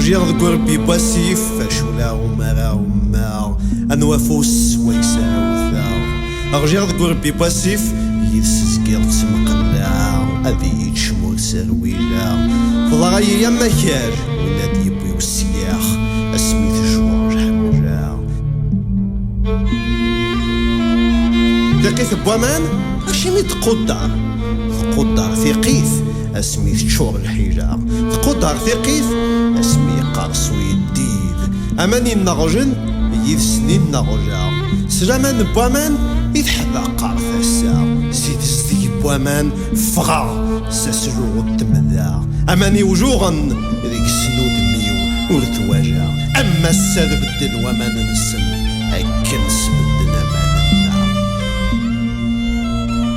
Ɣjiɣ deg urebbi n wasif Acula umara ummaɣ Anwa afus wayes ara wteɣ Ɣjiɣ deg urebbi n wasif Yid-s zgiɣ ttmqellaɛeɣ Ad iyi-d-cmu ur serwileɣ Teḍra-yi am akal Win ad d-yewwi usyax Asmi tejweɣ lḥemra Tiqit n waman acimi tequddar Tequddar tiqit asmi teččur lḥila tquddar tiqit asmi yeqqers uyeddid aman inneɣjen yid-sen inneɣja s laman n waman i teḥdaqer tasa si tezdeg n waman ffɣeɣ s asluɣ n temda aman iwjuɣen deg-sen udem-iw ur twajaɣ am ass-a d bedden waman-nsen akken sbedden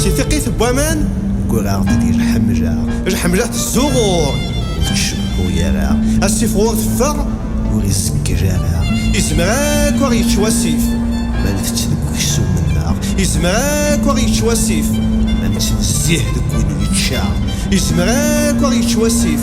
Si tiqit n waman. Gguraɣ-d di lḥemla. Lḥemla tezzuɣur. Ur tcebḥu ara. Asif ɣur teffeɣ. Ur izeggel ara. Izmer akk ad ɣ-yečč wasif. Ma ntett deg uksum-nneɣ. Izmer akk ad ɣ-yečč wasif. Ma nettnezzih deg win yečča. Izmer akk ad ɣ-yečč wasif.